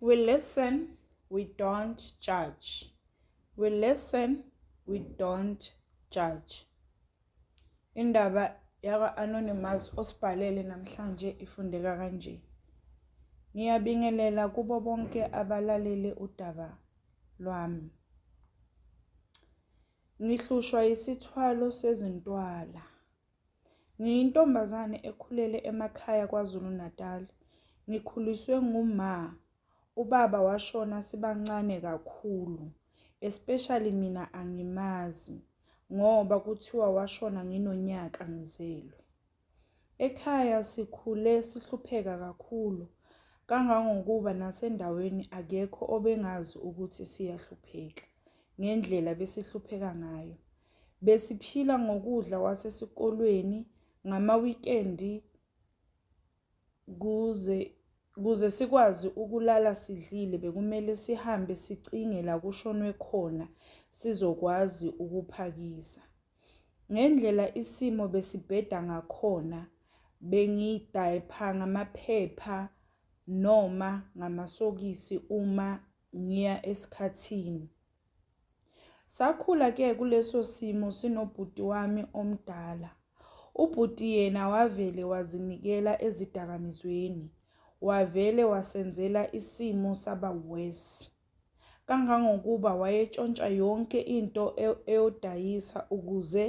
We listen, we don't judge. We listen, we don't judge. Indaba yaka Anonymous osibhalele namhlanje ifundeka kanje. Ngiyabingelela kubo bonke abalalele udaba lwami. Ngihlushwa isithwalo sezintwala. Ngiyintombazane ekhulele emakhaya KwaZulu-Natal. Ngikhuliswe nguma. Ubaba washona sibancane kakhulu. Especially mina angimazi ngoba kuthiwa washona nginonyaka ngizelwe. Ekhaya sikhule sihlupheka kakhulu kangangokuba nasendaweni akekho obengazi ukuthi siyahlupheka ngendlela besihlupheka ngayo. Besiphila ngokudla kwasesikolweni ngamawikendi kuze kuze sikwazi ukulala sidlile bekumele sihambe sicinge la kushonwe khona sizokwazi ukuphakisa. Ngendlela isimo besibheda ngakhona bengidayipha ngamaphepha noma ngamasokisi uma ngiya esikhathini. Sakhula ke kuleso simo sinobhuti wami omdala. Ubhuti yena wavele wazinikela ezidakamizweni. Wavele wasenzela isimo saba worse. Kangangokuba wayetshontsha yonke into e-, eyodayisa ukuze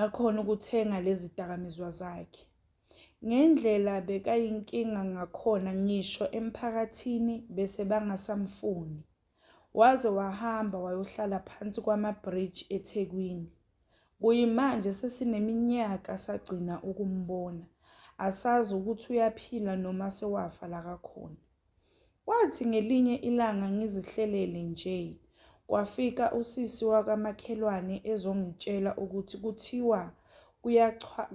akhona ukuthenga lezi dakamizwa zakhe. Ngendlela bekayinkinga ngakhona ngisho emphakathini bese bangasamfuni. Waze wahamba wayohlala phansi kwama-bridge eThekwini. Kuyimanje sesineminyaka sagcina ukumbona. Asazi ukuthi uyaphila noma sewafa la kakhona. Kwathi ngelinye ilanga ngizihlelele nje, kwafika usisi wakamakhelwane ezongitshela ukuthi kuthiwa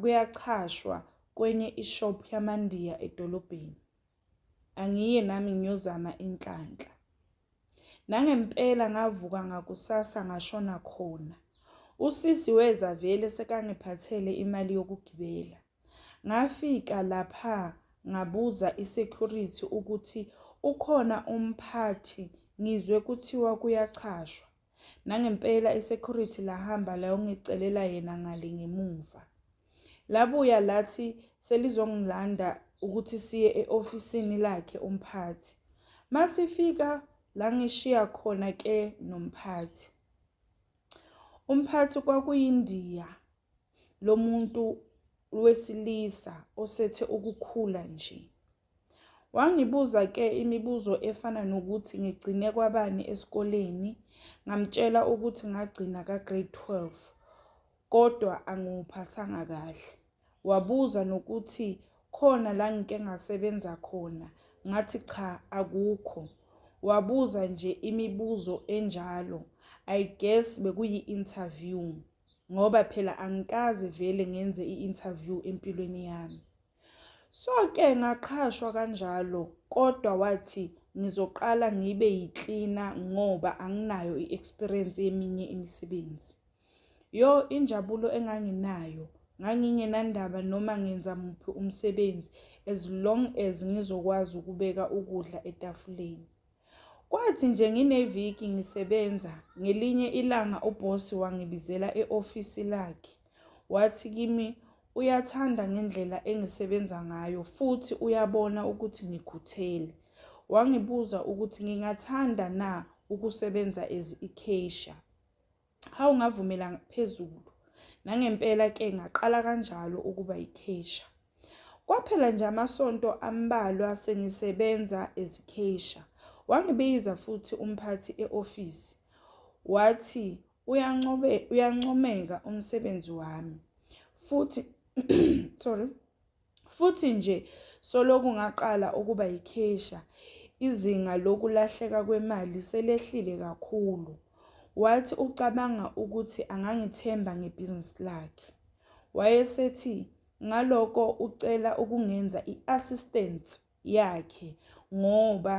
kuyachashwa kwenye ishop yamaNdiya edolobheni. Angiye nami ngiyozama inhlanhla. Nangempela ngavuka ngakusasa ngashona khona. Usisi weza vele sekangiphathele imali yokugibela. Ngafika lapha ngabuza isecurity ukuthi ukhona umphathi ngizwe kuthiwa kuyachashwa. Nangempela isecurity lahamba layongicelela yena ngale ngemuva. Labuya lathi selizongilanda ukuthi siye e-ofisini lakhe umphathi. Masifika la ngishiya khona ke nomphathi. Umphathi kwakuyindiya lomuntu wesilisa osethe ukukhula nje. Wangibuza ke imibuzo efana nokuthi ngigcine kwabani esikoleni, ngamtshela ukuthi ngagcina ka grade 12 kodwa angiwuphasanga kahle. Wabuza nokuthi khona la ngike ngasebenza khona, ngathi cha akukho. Wabuza nje imibuzo enjalo, I guess bekuyi interview ngoba phela angikaze vele ngenze i interview empilweni yami. So-ke ngaqhashwa kanjalo kodwa wathi ngizoqala ngibe yiklina ngoba anginayo i-experience yeminye imisebenzi. Yo injabulo enganginayo ngangingenandaba noma ngenza muphi umsebenzi as long as ngizokwazi ukubeka ukudla etafuleni. Kwathi nje ngineviki ngisebenza, ngelinye ilanga ubhosi wangibizela e-ofisi lakhe. Wathi kimi, uyathanda ngendlela engisebenza ngayo futhi uyabona ukuthi ngikhuthele. Wangibuza ukuthi ngingathanda na ukusebenza as i-cashier. Hawu ngavumela phezulu. Nangempela ke ngaqala kanjalo ukuba yikhesha. Kwaphela nje amasonto ambalwa sengisebenza ezikhesha. Wangibiza futhi umphathi eofisi. Wathi uyancobe uyancomeka umsebenzi wami. Futhi sorry. Futhi nje soloku ngaqala ukuba yikhesha, izinga lokulahleka kwemali selehlile kakhulu. Wathi ucabanga ukuthi angangithemba ngebhizinisi lakhe. Wayesethi ngaloko ucela ukungenza i-assistant yakhe ngoba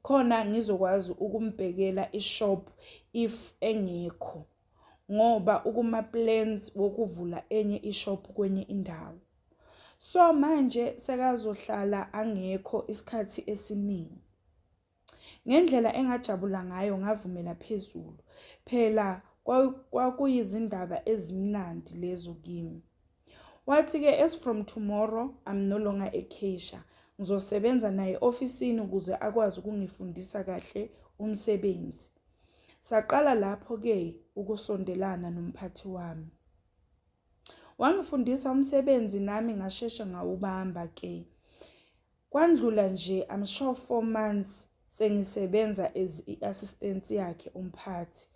khona ngizokwazi ukumbhekela ishop if engekho ngoba ukuma plans wokuvula enye ishop kwenye indawo so manje sekazohlala angekho isikhathi esiningi ngendlela engajabula ngayo ngavumela phezulu phela kwakuyizindaba ezimnandi lezo kimi Wathi-ke, As from tomorrow, I'm no longer a cashier. Ngizosebenza naye ofisini ukuze akwazi ukungifundisa kahle umsebenzi. Saqala lapho-ke ukusondelana nomphathi wami. Wangifundisa umsebenzi nami ngasheshe ngawubamba-ke. Kwandlula nje I'm sure four months sengisebenza as i-assistant yakhe umphathi.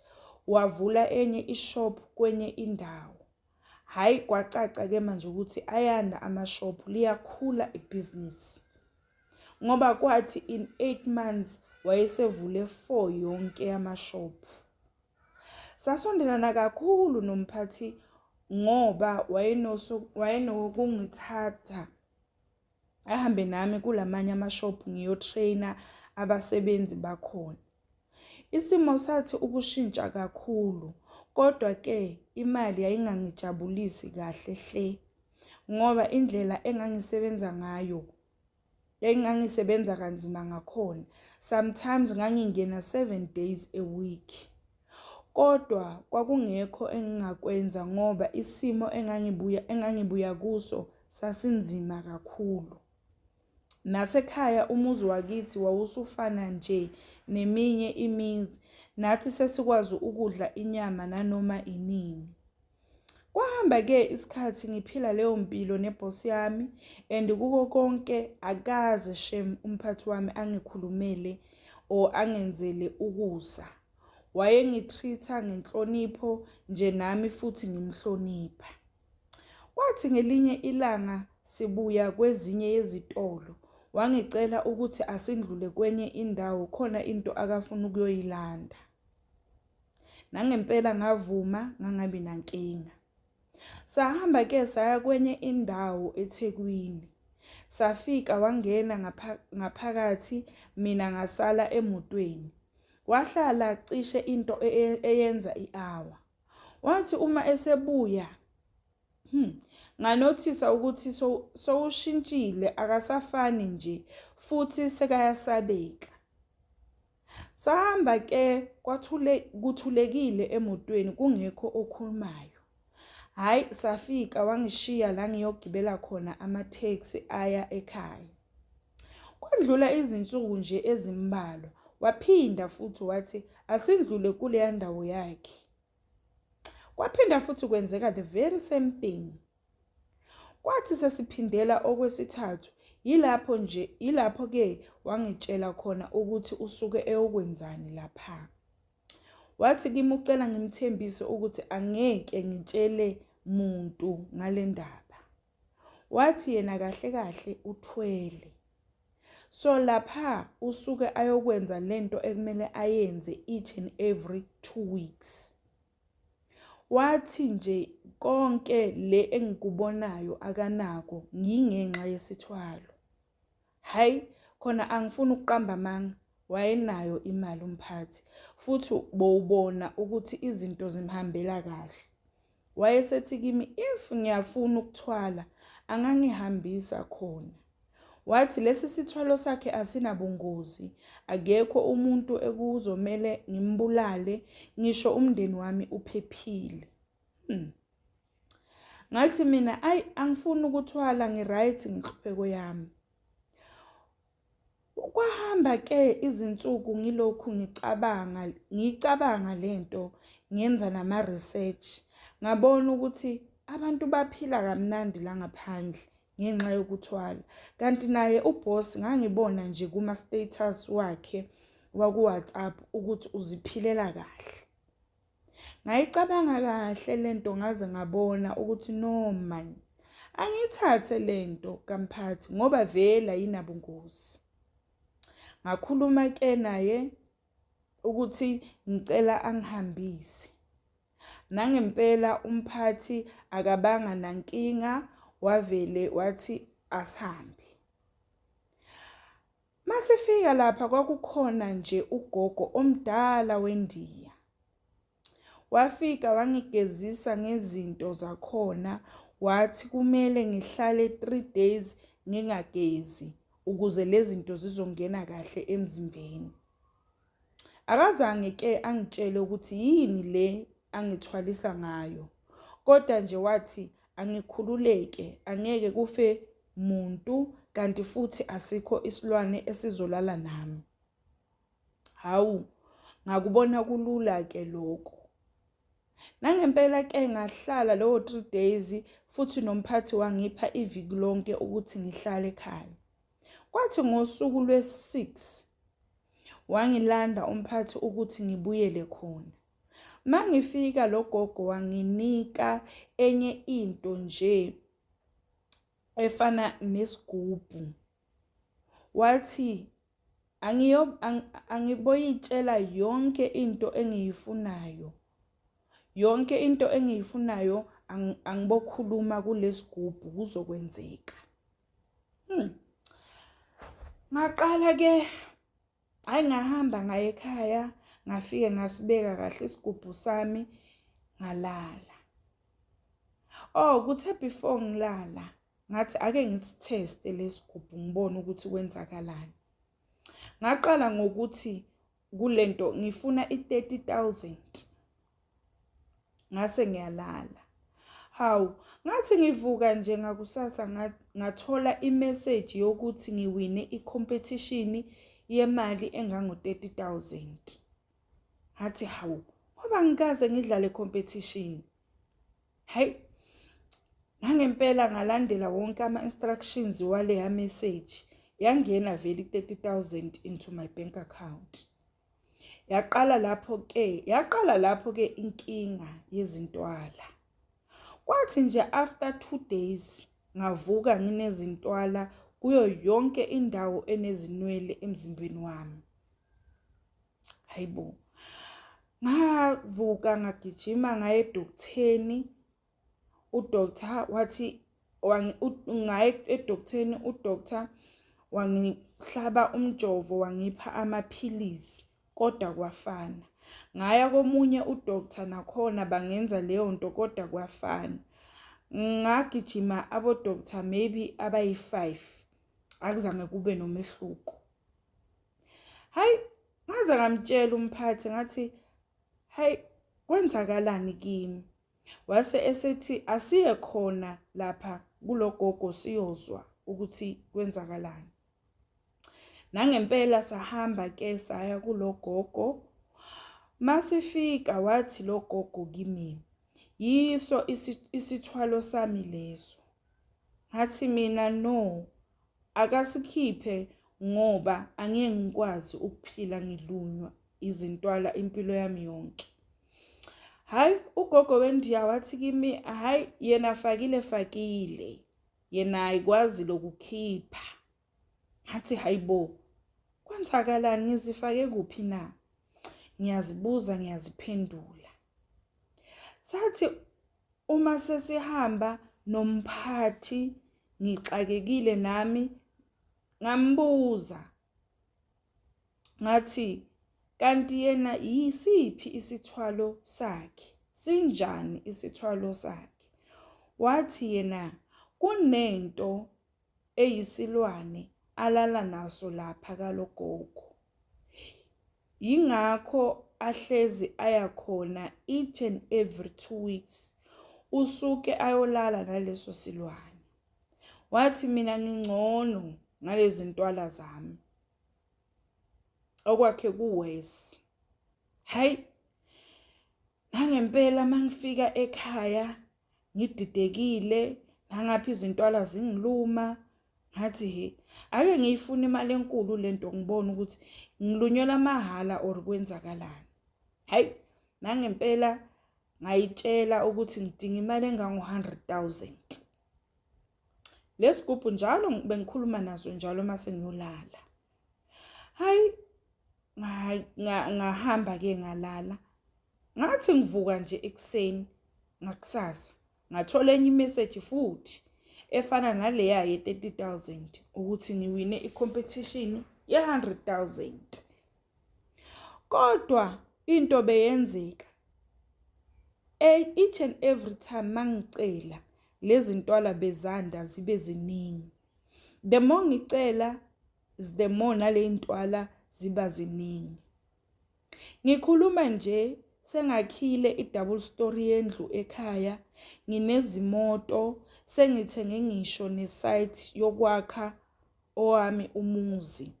Wavula enye ishop kwenye indawo. Hhayi kwacaca ke manje ukuthi ayanda amashophu liyakhula ibhizinisi ngoba kwathi in 8 months wayesevule 4 yonke yamashophu. Sasondelana kakhulu nomphathi ngoba wayenokungithatha ahambe nami kulamanye amashophu ngiyotrainer abasebenzi bakhona isimo sathi ukushintsha kakhulu kodwa ke imali yayingangijabulisi kahle hle ngoba indlela engangisebenza ngayo engangisebenza kanzima ngakhona sometimes ngangingena 7 days a week Kodwa kwakungekho engingakwenza ngoba isimo engangibuya engangibuya kuso sasinzima kakhulu. Nasekhaya umuzi wakithi wawusufana nje neminye imizi, nathi sesikwazi ukudla inyama nanoma inini. Kwahamba ke isikhathi ngiphila leyo mpilo neboss yami and kuko konke akaze shem umphathi wami angikhulumele or angenzele ukusa. Wayengitreat-a ngenhlonipho nje nami futhi ngimhlonipha. Kwathi ngelinye ilanga sibuya kwezinye yezitolo wangicela ukuthi asindlule kwenye indawo khona into akafuna ukuyoyilanda. Nangempela ngavuma ngangabi nankinga. Sahamba ke saya kwenye indawo eThekwini. Safika wangena ngaphakathi mina ngasala emotweni. Wahlala cishe into e, e, eyenza i-hour. Wathi uma esebuya hmm, nganothisa ukuthi sowushintshile akasafani nje futhi sekayasabeka. Sahamba ke kwathule kuthulekile emotweni kungekho okhulumayo. Hayi safika wangishiya la ngiyogibela khona ama-taxi aya ekhaya. Kwandlula izinsuku nje ezimbalwa waphinda futhi wathi asindlule kuleya ndawo yakhe. Kwaphinda futhi kwenzeka the very same thing. Kwathi sesiphindela okwesithathu yilapho nje yilapho ke wangitshela khona ukuthi usuke eyokwenzani lapha. Wathi kimi ucela ngimthembise ukuthi angeke ngitshele muntu ngale ndaba. Wathi yena kahle kahle uthwele. So lapha usuke ayokwenza lento ekumele ayenze each and every 2 weeks. Wathi nje konke le engikubonayo akanako ngingenxa yesithwalo. Hhayi khona angifuni ukuqamba amanga wayenayo imali umphathi futhi bowubona ukuthi izinto zimhambela kahle. Wayesethi kimi if ngiyafuna ukuthwala angangihambisa khona. Wathi lesi sithwalo sakhe asinabungozi, akekho umuntu ekuzomele ngimbulale, ngisho umndeni wami uphephile. Hmm. Ngathi mina ayi angifuni ukuthwala ngiright ngihlupheko yami. Kwahamba ke izinsuku ngilokhu ngicabanga ngicabanga lento ngenza nama research ngabona ukuthi abantu baphila kamnandi la ngaphandle ngenxa yokuthwala kanti naye uboss ngangibona nje kuma status wakhe waku WhatsApp ukuthi uziphilela kahle Ngayicabanga kahle lento ngaze ngabona ukuthi no man. Angiyithathe lento kamphathi ngoba vele ayinabungozi. Ngakhuluma ke naye ukuthi ngicela angihambise. Nangempela umphathi akabanga nankinga wavele wathi asihambe. Masifika lapha kwakukhona nje ugogo omdala wendiya. Wafika wangigezisa ngezinto zakhona wathi kumele ngihlale 3 days ngingagezi ukuze lezi zinto zizongena kahle emzimbeni. Akazange ke angitshele ukuthi yini le angithwalisa ngayo kodwa nje wathi angikhululeke angeke kufe muntu kanti futhi asikho isilwane esizolala nami. Hawu ngakubona kulula ke lokho. Nangempela ke ngahlala lowo 3 days futhi nomphathi wangipha iviki lonke ukuthi ngihlale ekhaya. Kwathi ngosuku lwesi-6 wangilanda umphathi ukuthi ngibuyele khona. Mangifika lo gogo wanginika enye into nje efana nesigubhu. Wathi angiyo angiboyitshela yonke into engiyifunayo. Yonke into engiyifunayo angibokhuluma kulesigubhu kuzokwenzeka. Hmm. Ngaqala ke hayi ngahamba ngaye ekhaya ngafike ngasibeka kahle isigubhu sami ngalala. Oh kuthe before ngilala ngathi ake ngisitheste lesigubhu ngibone ukuthi kwenzakalani. Ngaqala ngokuthi kulento ngifuna i-30000 ngase ngiyalala hawu ngathi ngivuka nje ngakusasa ngathola i-message yokuthi ngiwine i-competition yemali engango-30000 ngathi hawu ngoba ngikaze ngidlale competition hayi nangempela ngalandela wonke ama-instructions waleya message yangena vele i-thirty thousand into my bank account yaqala lapho ke yaqala lapho ke inkinga yezintwala kwathi nje after two days ngavuka nginezintwala kuyo yonke indawo enezinwele emzimbeni wami hayi bo ngavuka ngagijima ngaye edoktheni udoctor wathi ngaye edoktheni udoctor wangihlaba umjovo wangipha amaphilisi kodwa kwafana ngaya komunye udoctor nakhona bangenza leyo nto kodwa kwafana ngagijima abodoctor maybe abayi-five akuzange kube nomehluko hayi ngaze ngamtshela umphathi ngathi hayi kwenzakalani kimi wase esethi asiye khona lapha kulogogo siyozwa ukuthi kwenzakalani nangempela sahamba ke saya kulogogo masifika wathi logogo kimi yiso isithwalo sami leso Ngathi mina no akasikhiphe ngoba angeke ngikwazi ukuphila ngilunywa izintwala impilo yami yonke. Hayi ugogo wendiya wathi kimi hayi yena fakile fakile yena ayikwazi lokukhipha. ngathi hayibo kwenzakalani ngizifake kuphi na ngiyazibuza ngiyaziphendula sathi uma sesihamba nomphathi ngixakekile nami ngambuza ngathi kanti yena yisiphi isithwalo sakhe sinjani isithwalo sakhe wathi yena kunento eyisilwane alala naso lapha kalogogo. Yingakho ahlezi aya khona each and every two weeks usuke ayolala naleso silwane. Wathi mina ngingcono ngalezi ntwala zami. Okwakhe kuwesi. Hayi nangempela mangifika ekhaya ngididekile ngangapha izintwala zingiluma ngathi he ake ngiyifuna imali enkulu lento ngibona ukuthi ngilunyelwa mahhala or kwenzakalani hayi nangempela ngayitshela ukuthi ngidinga imali engango-100 000 lesigubhu njalo bengikhuluma naso njalo uma sengiyolala hayi ngahamba ke ngalala ngathi ngivuka nje ekuseni ngakusasa ngathola enye imeseji futhi efana naleya ye-30 000 ukuthi ngiwine i-competition ye-100 000 kodwa into beyenzeka each and every time mangicela lezintwala bezanda zibe ziningi the more ngicela is the more naleyintwala ziba ziningi ngikhuluma nje sengakhile i-double story yendlu ekhaya nginezimoto sengithenge ngisho ne-site yokwakha owami umuzi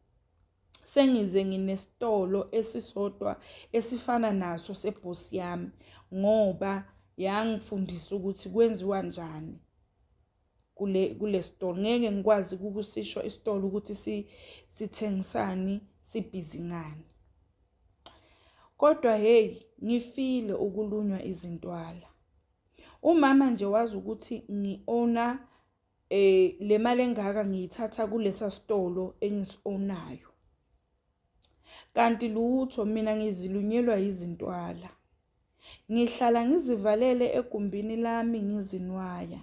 sengize nginesitolo esisodwa esifana naso sebhosi yami ngoba yangifundisa ukuthi kwenziwa njani kule kule store ngeke ngikwazi ukusisho isitolo ukuthi si sithengisani sibhizi ngani kodwa hey ngifile ukulunywa izintwala umama nje wazi ukuthi ngiona Eh le mali engaka ngiyithatha kulesa sitolo engisionayo. Kanti lutho mina ngizilunyelwa izintwala. Ngihlala ngizivalele egumbini lami ngizinwaya.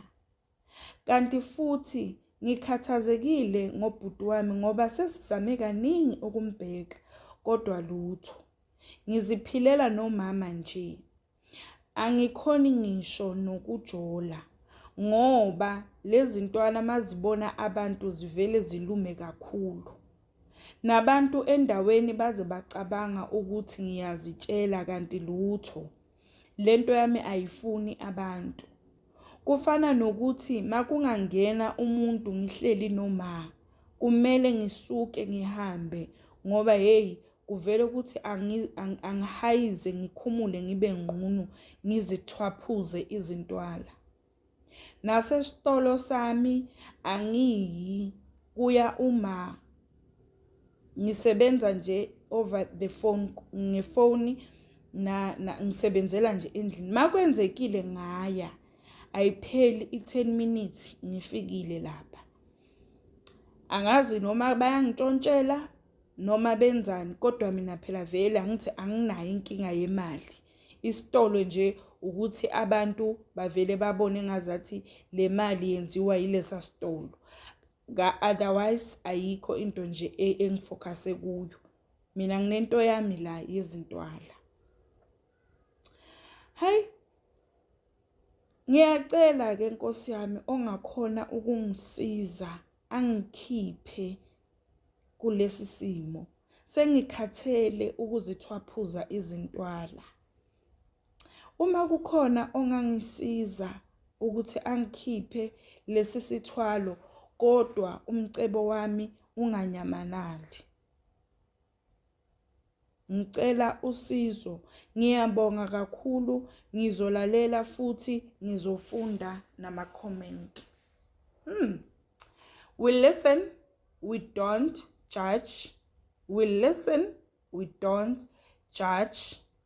Kanti futhi ngikhathazekile ngobhuti wami ngoba sesizame kaningi ukumbheka kodwa lutho. Ngiziphilela nomama nje. Angikhoni ngisho nokujola ngoba lezintwana mazibona abantu zivele zilume kakhulu. Nabantu endaweni baze bacabanga ukuthi ngiyazitshela kanti lutho. Lento yami ayifuni abantu. Kufana nokuthi makungangena umuntu ngihleli noma kumele ngisuke ngihambe ngoba hey kuvele ukuthi angihayize ngikhumule ngibe ngqunu ngizithwaphuze izintwala. Nasesitolo sami angiyi kuya uma ngisebenza nje over the phone ngefoni na, na ngisebenzela nje endlini makwenzekile ngaya ayipheli i10 minutes ngifikile lapha angazi noma bayangintontshela noma benzani kodwa mina phela vele angithi anginayo inkinga yemali isitolo nje ukuthi abantu bavele babone ngazathi le mali yenziwa yilesa sitolo ka otherwise ayikho into nje e, engifocuse kuyo mina nginento yami la yezintwala hayi ngiyacela ke nkosi yami ongakhona ukungisiza angikhiphe kulesi simo sengikhathele ukuzithwaphuza izintwala Uma kukhona ongangisiza ukuthi angikhiphe lesi sithwalo kodwa umcebo wami unganyamalali. Ngicela usizo. Ngiyabonga kakhulu, ngizolalela futhi ngizofunda nama-comment. Hmm. We listen, we don't judge. We listen, we don't judge.